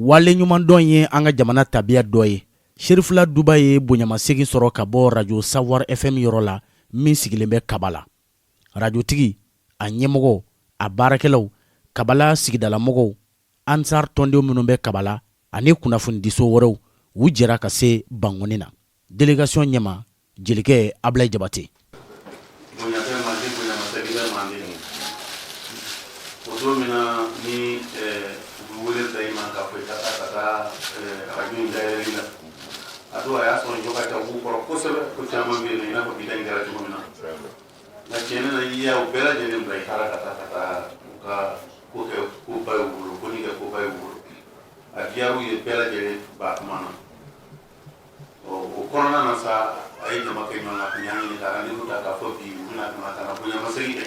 waleɲumandɔn ye an ka jamana tabiya dɔ ye serifula duba ye bonyamasegin sɔrɔ ka bɔ rajo savoir fm yɔrɔ la min sigilen bɛ kabala arajotigi a ɲɛmɔgɔ a baarakɛlaw kabala sigidalamɔgɔw ansar tɔndenw minnu bɛ kabala ani kunnafonidiso wɛrɛw u jɛra ka se bankɔni na delegasiyɔn ɲɛmaa jelikɛ abulayi jabate a dɔw a y'a sɔrɔ jɔ ka ca b'u kɔrɔ kosɛbɛ ko caman bɛ yen nɔ i n'a fɔ bi danni kɛra cogo min na nka tiɲɛ na i y'a u bɛɛ lajɛlen bila i taara ka taa ka taa u ka ko kɛ ko ba y'u bolo ko ni kɛ ko ba y'u bolo a diyar'u ye bɛɛ lajɛlen b'a kuma na ɔ o kɔnɔna na sa a ye jama kɛ ɲɔgɔn kan ka ɲa ɲini ka rendez-vous ta k'a fɔ bi u bɛna ka na ka na bonyamasegin kɛ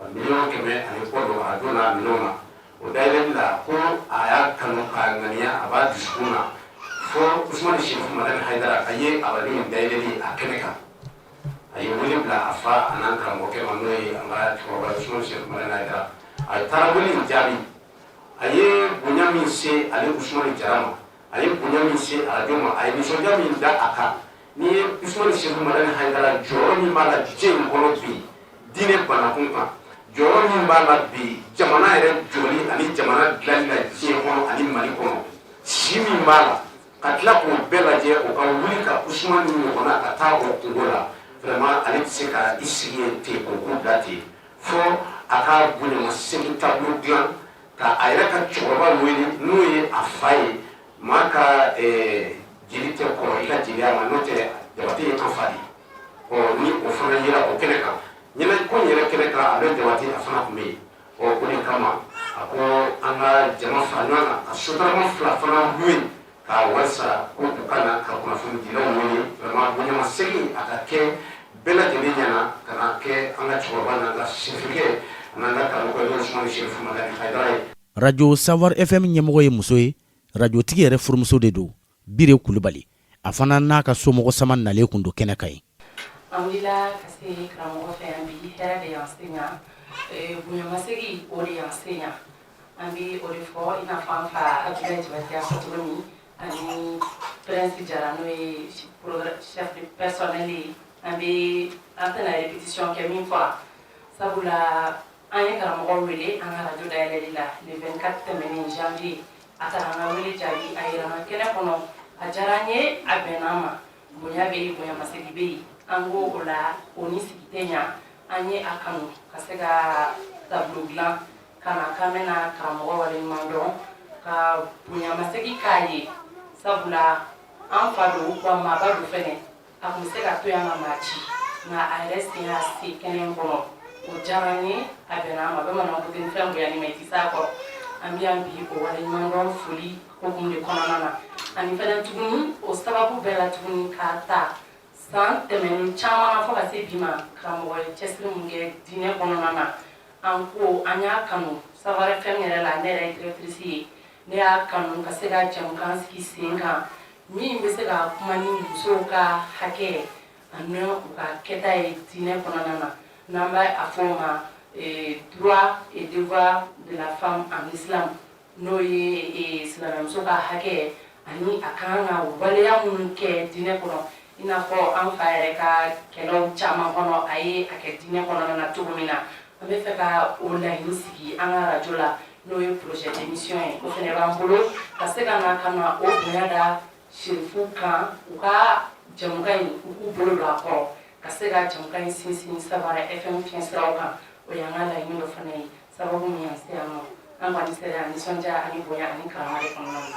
A miliyɔn kɛmɛ ani kɔ don arajo min na o dayɛlɛli la ko a y'a kanu k'a ŋaniya a b'a dusukun na fo usumani sɛrifu madani hayidara a ye arajo in dayɛlɛli a kɛnɛ kan a ye wele bila a fa an'an karamɔgɔkɛ ma n'o ye an ka cɛkɔrɔba sɛrifu madani hayidara a taara wele in jaabi a ye bonya min se ale usumani jara ma a ye bonya min se arajo ma a ye nisɔndiya min da a kan N'i ye Usumani Sɛrifu Madani Hayidara jɔyɔrɔ min b'a la diɲɛ in kɔnɔ bi diinɛ banakun kan jɔyɔrɔ min b'a la bi jamana yɛrɛ jɔli ani jamana dilanni la diɲɛ kɔnɔ ani Mali kɔnɔ si min b'a la ka tila k'o bɛɛ lajɛ o ka wuli ka Usumani ɲɔgɔnna ka taa o kungo la vraiment ale tɛ se ka i sigi yen ten k'o ko bila ten fo a ka bonyamasegin taabolo dilan ka a yɛrɛ ka cɛkɔrɔba wele n'o ye a fa ye Maa ka jeli tɛ kɔrɔ i ka jeliya ma n'o tɛ jabate ye an fa de ye, ɔ ni o fana yera o kɛnɛ kan, ɲɛnajɛko in yɛrɛ kɛnɛ kan Abulayi jabate a fana tun bɛ yen, ɔ o de kama a ko an ka jama fara ɲɔgɔn kan ka sotarama fila fana loué k'a wari sara ko u ka na ka kunnafonidilaw wele vraiment bonyamasegin a ka kɛ bɛɛ lajɛlen ɲɛna ka na kɛ an ka cɛkɔrɔba n'an ka sɛrifukɛ an'an ka karamɔgɔkɛ n'o ye Usumani Sɛrifu Madani Hayidara ye. arajo savoir fm ɲɛmɔgɔ ye muso ye arajotigi yɛrɛ furumuso de don biri kulubali a fana n'a ka somɔgɔ sama nalen tun don kɛnɛ kan yen An ye karamɔgɔ wele an ka radio dayɛlɛli la le 24 tɛmɛnen janvier a taara an ka wele jaabi a yɛrɛ nana kɛnɛ kɔnɔ a diyara an ye a bɛnna an ma bonya bɛ yen bonyamasegin bɛ yen an ko o la o ni sigi tɛ ɲɛ an ye a kanu ka se ka tableau dilan ka na k'an bɛna karamɔgɔ waleɲuman dɔn ka bonyamasegin k'a ye sabula an fa don wa maaba don fɛnɛ a tun bɛ se ka to yan ka maa ci nka a yɛrɛ sen y'a se kɛnɛ kɔnɔ o diyara an ye a bɛnna an ma bamananw ko ten fɛn bonya ni ma i tɛ s'a kɔrɔ an bɛ yan bi o waleɲuman dɔn foli hokumu de kɔnɔna na ani fɛnɛ tuguni o sababu bɛɛ la tuguni k'a ta san tɛmɛnen caman na fo ka se bi ma karamɔgɔ ye cɛsiri mun kɛ diinɛ kɔnɔna na an ko an y'a kanu Savoir FM yɛrɛ la ne yɛrɛ ye directrice ye ne y'a kanu ka se ka jɛmukan sigi sen kan min bɛ se ka kuma ni musow ka hakɛ ani u ka kɛta ye diinɛ kɔnɔna na n'an b'a fɔ o ma eh, droit et devoir de la femme en islam n'o ye eh, silamɛmuso ka hakɛ ani a kan ka waleya minnu kɛ diinɛ kɔnɔ i n'a fɔ an fa yɛrɛ ka kɛnɛ caman kɔnɔ a ye a kɛ diinɛ kɔnɔna na cogo min na an bɛ fɛ ka o laɲini sigi an ka radio la n'o ye projet d'émission ye o fɛnɛ b'an bolo ka se ka na ka na o bonya da serifuw kan u ka jɛmukan in u k'u bolo don a kɔrɔ ka se ka jɛmukan in sinsin Savoir FM fiɲɛ siraw kan o y'an ka laɲini dɔ fana ye sababu min y'an se yan nɔ an kɔni sera nisɔndiya ani bonya ani karama de kɔnɔna na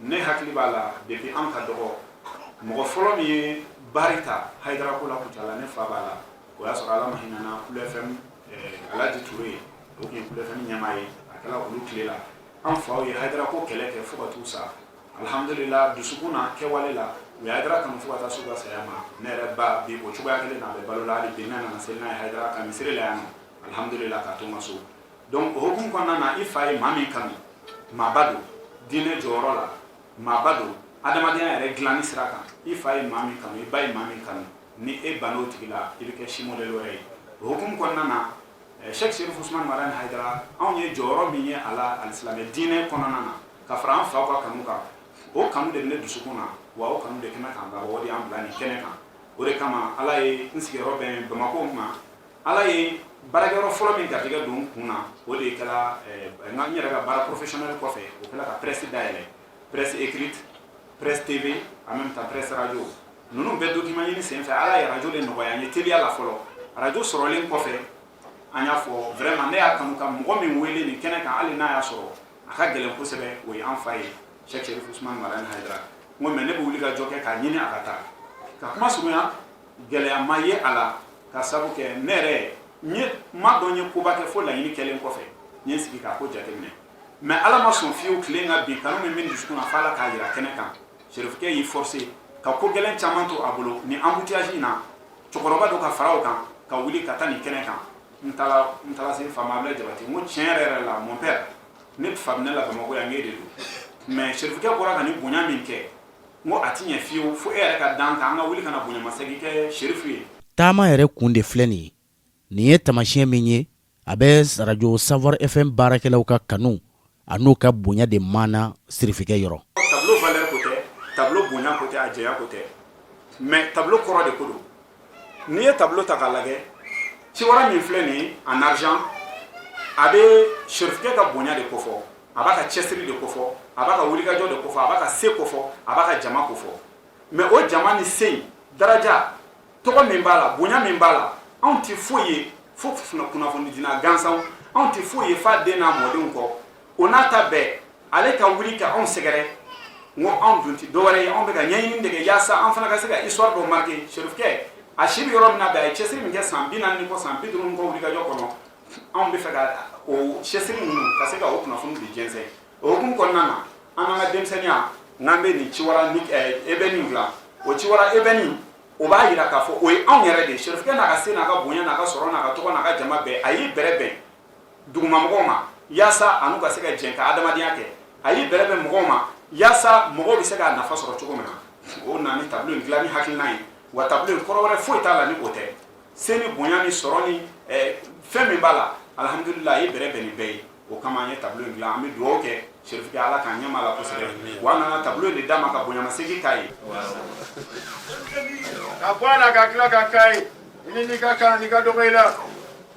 ne hakili b'a la depuis an ka dɔgɔ mɔgɔ fɔlɔ min ye baari ta Hayidara ko la Kucala ne fa b'a la o y'a sɔrɔ Ala ma hinɛna Kulu FM eh, Alaji Ture ye o tun ye Kulu FM ɲɛmaa ye a kɛla olu tile la an faw ye Hayidara ko kɛlɛ kɛ fo ka t'u sa alhamdulila dusukun na kɛwale la u ye Hayidara kanu fo ka taa s'u ka saya ma ne yɛrɛ ba bi o cogoya kelen na a bɛ balo la hali bi ne nana seli n'a ye Hayidara ka misiri la yan nɔ alhamdulila k'a to n ka so donc o hukumu kɔnɔna na i fa ye maa min kanu maaba don diinɛ jɔyɔrɔ la maaba don adamadenya yɛrɛ dilanni sira kan i fa ye maa min kanu i ba ye maa min kanu ni e banna o tigi la i bɛ kɛ si modèle wɛrɛ ye o hukumu kɔnɔna na Cheikh Sherif Ousmane Madani Haidara anw ye jɔyɔrɔ min ye a la alisilamɛ diinɛ kɔnɔna na ka fara an faw ka kanu kan o kanu de bɛ ne dusukun na wa o kanu de kɛmɛ k'an labɔ o de y'an bila nin kɛnɛ kan o de kama ala ye n sigiyɔrɔ bɛn Bamako ma ala ye baarakɛyɔrɔ fɔlɔ min garijɛgɛ don n kun na o de kɛra eh, n yɛrɛ ka baara professionnel kɔfɛ o kɛra ka presse dayɛlɛ presse écrite presse tv en même temps presse radio ninnu bɛɛ document ɲini sen fɛ ala ye radio de nɔgɔya an ye teliya la fɔlɔ radio sɔrɔlen kɔfɛ an y'a fɔ vraiment ne y'a kanu ka mɔgɔ min wele nin kɛnɛ kan hali n'a y'a sɔrɔ a ka gɛlɛn kosɛbɛ o ye an fa ye cheikh sherif usman madani haidara n ko mais ne bɛ wuli ka jɔ kɛ k'a ɲini a ka taa ka kuma surunya gɛlɛya ma ye a la k'a sabu kɛ ne yɛrɛ n ma dɔn n ye koba kɛ fo laɲini kɛlen kɔfɛ n ye n sigi k'a ko jateminɛ mais ala ma sɔn fiyewu tile ka bin kanu min bɛ dusukun na f'ala k'a jira kɛnɛ kan serifukɛ y'i forcer ka ko gɛlɛn caman to a bolo ni embouteillage in na cɛkɔrɔba dɔ ka fara o kan ka wuli ka taa nin kɛnɛ kan n taara n taara se fa ma abdoulaye jabate n ko tiɲɛ yɛrɛ yɛrɛ la mon père ne fa bɛ ne la bamakɔ yan n k'e de don mais serifukɛ bɔra ka nin bonya min kɛ n ko a ti ɲɛ fiyewu fo e yɛrɛ ka d'an kan an ka wuli ka na bonyamasegin kɛ sherifu ye taama yɛrɛ kun de filɛ nin ye nin ye taamasiyɛn min ye a bɛ radio savoir fm baarakɛlaw ka kanu a n'u ka bonya de maana sirifikɛ yɔrɔ tableau valeur ko tɛ tableau bonya ko tɛ a jɛya ko tɛ mais tableau kɔrɔ de ko don n'i ye tableau ta k'a lajɛ ciwara min filɛ nin ye en argent a bɛ sɛrifikɛ ka bonya de kofɔ a b'a ka cɛsiri de kofɔ a b'a ka wulikajɔ de kofɔ a b'a ka se kofɔ a b'a ka jama kofɔ mais o jama ni se in daraja tɔgɔ min b'a la bonya min b'a la anw tɛ foyi ye fo kunnafonidina gansanw anw tɛ foyi ye f'a den n'a mɔdenw kɔ o n'a ta bɛɛ ale ka wuli ka anw sɛgɛrɛ n ko anw dun tɛ dɔwɛrɛ ye anw bɛ ka ɲɛɲini de kɛ yaasa an fana ka se ka histoire dɔ marquer serifukɛ a si bɛ yɔrɔ min na bi a ye cɛsiri min kɛ san bi naani ni kɔ san bi duuru ni kɔ wulikajɔ kɔnɔ anw bɛ fɛ ka o cɛsiri ninnu ka se ka o kunnafoni de jɛnsɛn o hukumu kɔnɔna na an n'an ka denmisɛnninya n'an bɛ nin ciwara ebɛni dilan o ciwara ebɛni o b'a jira k'a fɔ o ye anw yɛrɛ de ye serifukɛ n'a ka se n'a ka bonya n'a ka sɔrɔ n'a ka tɔgɔ n'a ka jama bɛɛ a y'i bɛrɛ bɛn duguma mɔgɔw ma yaasa a n'u ka se ka jɛn ka adamadenya kɛ a y'i bɛrɛ bɛn mɔgɔw ma yaasa mɔgɔw bɛ se k'a nafa sɔrɔ cogo min na o na ni tableau in dilanni hakilina ye wa tableau in kɔrɔ wɛrɛ foyi t'a la ni o tɛ se ni bonya ni sɔrɔ ni eh, fɛn min b'a la alhamdulillah a y'i bɛrɛ bɛn ni bɛɛ ye o kama an ye tableau in dilan an bɛ dugawu kɛ sherifkɛ ala k'an ɲɛma la kosɛbɛ wa an nana tableau in de d'a ma ka bonyamasegin k'a ye ka bɔ a la ka tila ka k'a ye i ni n'i ka kan n'i ka dɔgɔ i la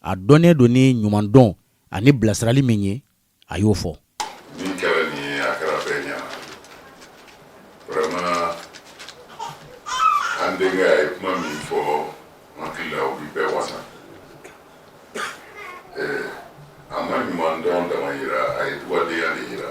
a dɔnnen don ni ɲumandɔn ani bilasirali min ye a y'o fɔ min kɛra nin ye a kɛra bɛɛ ɲɛna vraiment an denkɛ a ye kuma min fɔ n hakili la o bi bɛɛ wasa eh, a ma ɲumandɔn dama yira a ye dugadenya de yira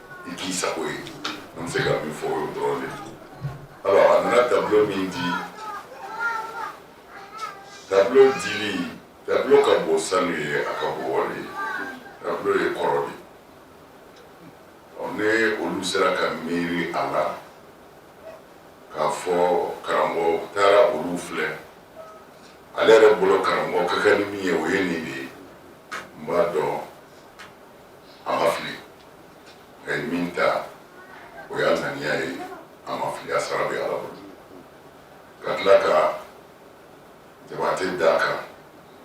i k'i sago ye an bɛ se ka min fɔ o ye dɔrɔn de alors a nana tableau min di tableau dili tableau ka bon sanu ye a ka bon wari ye tableau ye kɔrɔ de ɔ ne olu sera ka miiri a la k'a fɔ karamɔgɔ taara olu filɛ ale yɛrɛ bolo karamɔgɔ ka kan ni min ye o ye nin de ye n b'a dɔn a ma fili a ye min ta o y'a ŋaniya ye a ma fili a sara bɛ ala bolo ka tila ka jabate d'a kan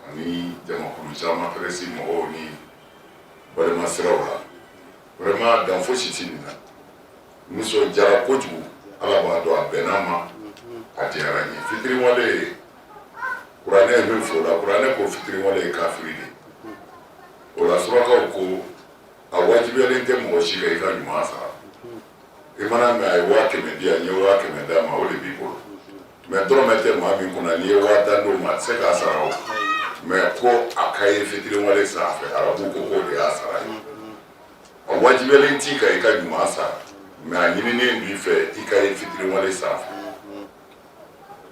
ani jamakulu caman pɛrɛsi mɔgɔw ni balima siraw la vraiment dan fosi tɛ nin na nisɔndiyara kojugu ala b'a dɔn a bɛnn'a ma a diyara n ye fitiriwale ye kuranɛ ye min fɔ o la kuranɛ ko fitiriwale ye kafiri de o la surakaw ko a wajibiyalen tɛ mɔgɔ si kan i ka ɲuman sara i mana mɛn a ye waa kɛmɛ di yan n ye waa kɛmɛ d'a ma o de b'i bolo mɛ dɔrɔmɛ tɛ maa min kunna n'i ye waa tan d'o ma a tɛ se k'a sara o mɛ ko a ka ye fitiriwale sanfɛ arabu ko k'o de y'a sara ye a wajibiyalen t'i kan i ka ɲuman sara mɛ a ɲininen b'i fɛ i ka ye fitiriwale sanfɛ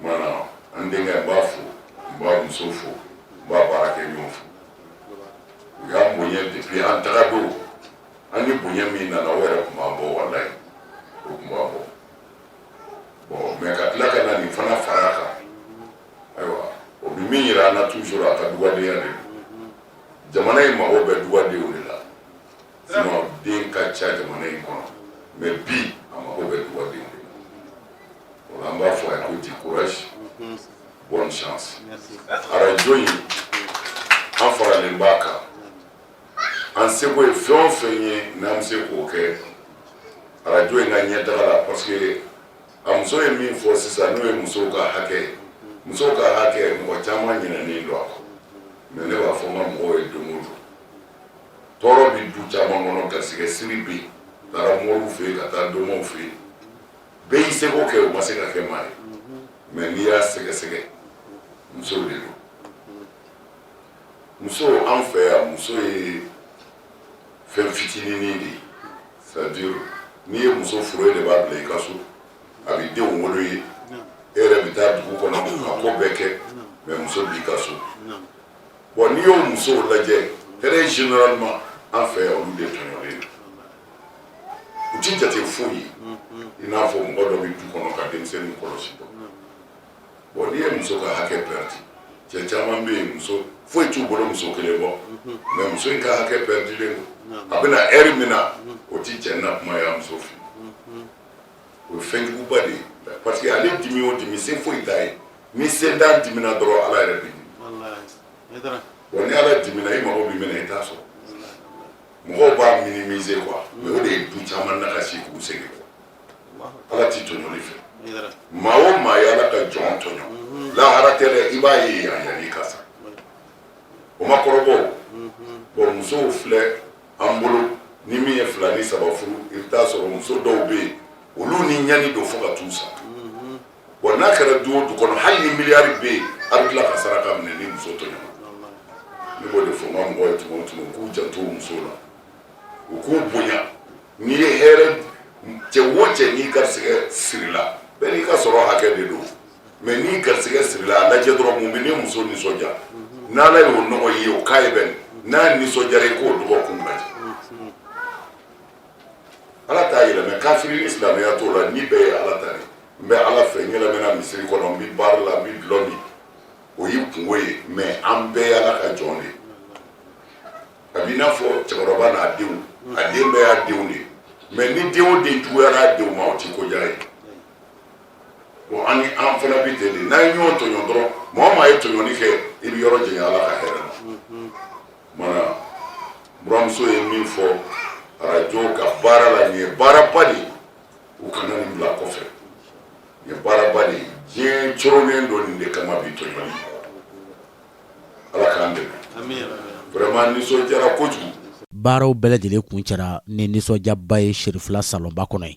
Mana an denkɛ n b'a fo n b'a muso fo n b'a baarakɛɲɔgɔn fo u y'an bonya depuis an taga don an ni bonya min nana o yɛrɛ tun b'an bɔ walayi o tun b'an bɔ bon mɛ ka tila ka na nin fana fara kan ayiwa o bɛ min yira an na toujours a ka dugadenya de don jamana in mago bɛ dugadenw de la sinon den ka ca jamana in kɔnɔ mɛ bi a mago bɛ dugadenw de la o la an b'a fɔ a ye ko du courage mhm. bonne chance arajo in an faralen b'a kan an seko ye fɛn o fɛn ye n'an bɛ se k'o kɛ arajo in ka ɲɛtaga la parce que a muso ye min fɔ sisan n'o ye musow ka hakɛ ye musow ka hakɛ mɔgɔ caman ɲinɛnen don a kɔ mɛ ne b'a fɔ n ka mɔgɔw ye don o don tɔɔrɔ bɛ du caman kɔnɔ garisɛgɛ siri bɛ yen taara moriw fɛ yen ka taa domaw fɛ yen bɛɛ y'i seko kɛ u ma se ka kɛ maa ye mɛ n'i y'a sɛgɛsɛgɛ muso de don muso an fɛ yan muso ye fɛn fitininin de ye c'est-à-dire n'i ye muso furu e de b'a bila i ka so a bɛ denw wolo ye e yɛrɛ bɛ taa dugu kɔnɔ ka ko bɛɛ kɛ mɛ muso b'i ka so Bon n'i y'o musow lajɛ très généralement an fɛ yan olu de tɔɲɔlen u tɛ jate foyi ye i n'a fɔ mɔgɔ dɔ bɛ du kɔnɔ ka denmisɛnnin kɔlɔsi dɔrɔn bon n'i ye muso ka hakɛ pɛrɛdi cɛ caman bɛ yen muso foyi t'u bolo muso kelen bɔ mɛ muso in ka hakɛ pɛrɛdilen don a bɛ na ɛri min na o tɛ cɛ na kuma ye muso fɛ o ye fɛn juguba de ye parce que ale dimi o dimi se foyi t'a ye ni sentan dimina dɔrɔn ala yɛrɛ bɛ dimi wa ni ala dimina i mago bɛ minɛ i t'a sɔrɔ mɔgɔw b'a minimiser quoi mɛ o de ye du caman nagasi k'u sɛgɛn quoi ala tɛ tɔɲɔli fɛ maa o maa ye ala ka jɔn tɔɲɔ mhm. lahara tɛ dɛ i b'a ye yan yanni i ka sa o ma kɔrɔbɔ mhm. bon musow filɛ an bolo ni min ye fila ni saba furu i bɛ t'a sɔrɔ muso dɔw bɛ yen olu ni ɲani don fo ka t'u sa Wa n'a kɛra du o du kɔnɔ hali ni miliyari bɛ yen a bɛ tila ka saraka minɛ ni muso tɔɲɔna ne b'o de fɔ n ka mɔgɔw ye tuma o tuma u k'u janto u muso la u k'u bonya n'i ye hɛrɛ cɛ o cɛ n'i garisigɛ sirila bɛɛ n'i ka sɔrɔ hakɛ de don mɛ n'i garisigɛ sirila a lajɛ dɔrɔn mun bɛ ne muso nisɔndiya n'ala y'o nɔgɔya o k'a ye bon n'a nisɔndiyara i k'o dɔgɔkun ala t'a yɛlɛmɛ kafiri ni silamɛya t'o la ni bɛɛ ye ala ta de n bɛ ala fɛ n yɛlɛmɛna misiri kɔnɔ n bɛ bari la n bɛ dulɔ min o y'i kungo ye mɛ an bɛɛ y'ala ka jɔn de a b'i n'a fɔ cɛkɔrɔba n'a denw a den bɛɛ y'a denw de mɛ ni den o den juguyara a denw ma o ti ko diya ye bon an fana bɛ ten de n'an ye ɲɔgɔn tɔɲɔ dɔrɔn maa o maa ye tɔɲɔni kɛ i bɛ yɔrɔ janya ala ka hɛrɛ la Mana buramuso ye min fɔ arajo ka baara la nin ye baaraba de ye u kana nin bila kɔfɛ nin ye baaraba de ye diɲɛ coronnen don nin de kama bi tɔɲɔni ala k'an dɛmɛ vraiment nisɔndiyara kojugu baaraw bɛɛ lajɛlen kuncɛra ni nisɔndiyaba ye sirifila salonba kɔnɔ ye